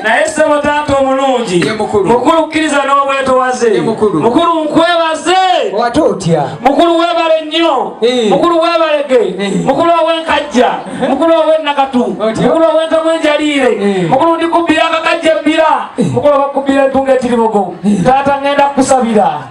naye ssebo taata omulungi mukulu kkiriza n'obwetowaze mukulu nkwebaze wate otya mukulu webale nnyo eh. mukulu webalege eh. mukulu owenkajja eh. mukulu owenakatu mukulu owentomu enjaliire mukulu ndikubbira akakajja ebbira mukulu obakubbira entunga etiribogo taata ngenda kukusabira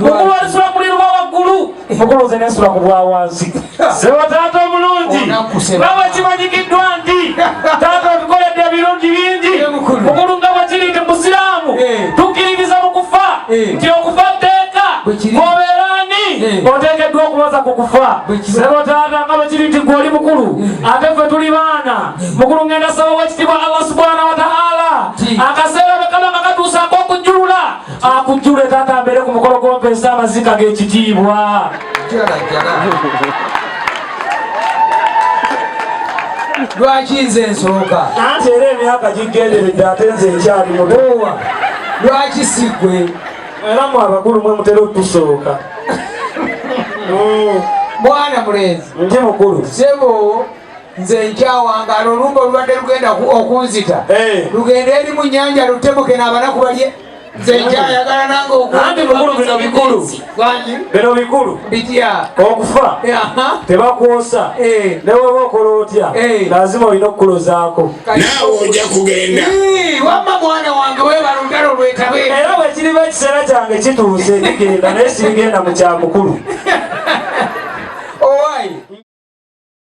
mukulwazisa omuliro gwa waggulu mukulwuze nensula ku bwa wansi sebo taata omulungi nga bwekimanyikiddwa nti taata otukoledde ebirungi bingi mukulu nga bwekiri nti musiraamu eh. tukkiririza mu kufa eh. nti okufa tteeka obeera ani eh. oteekeddwa okubaza ku kufa sebo taata nga bwekiri nti gwe oli mukulu ate ffe tuli baana mukulu ngenda saba wekitibwa allah subhanahu wataala akaseera bwekaba nga katuusaako okujjulula akujjule taata mbeere ku mukolo gw'ompeesa amazika g'ekitiibwa lwaki nze nsooka anti era emyaka gigenderedde ate nze ekyali mutowa lwaki sigwe era mu abakulu mwe mutera otusooka mwana mulenzi ndi mukulu sebo nze nkyawangala olumba olubadde lugenda okunzita eh. lugende eri mu nyanja lutebuke n'abanaku balye nzekyayagalanangaokuanti bikulu bino bikulu bino bikulu bitya okufa tebakwosa eh. neweba okola otya eh. lazima olina okukulozaako naawe oja kugenda wamma mwana wange webala olutalo lwetabe era bwekiriba ekiseera kyange kituuse nigenda naye sirigenda mu kyamukulu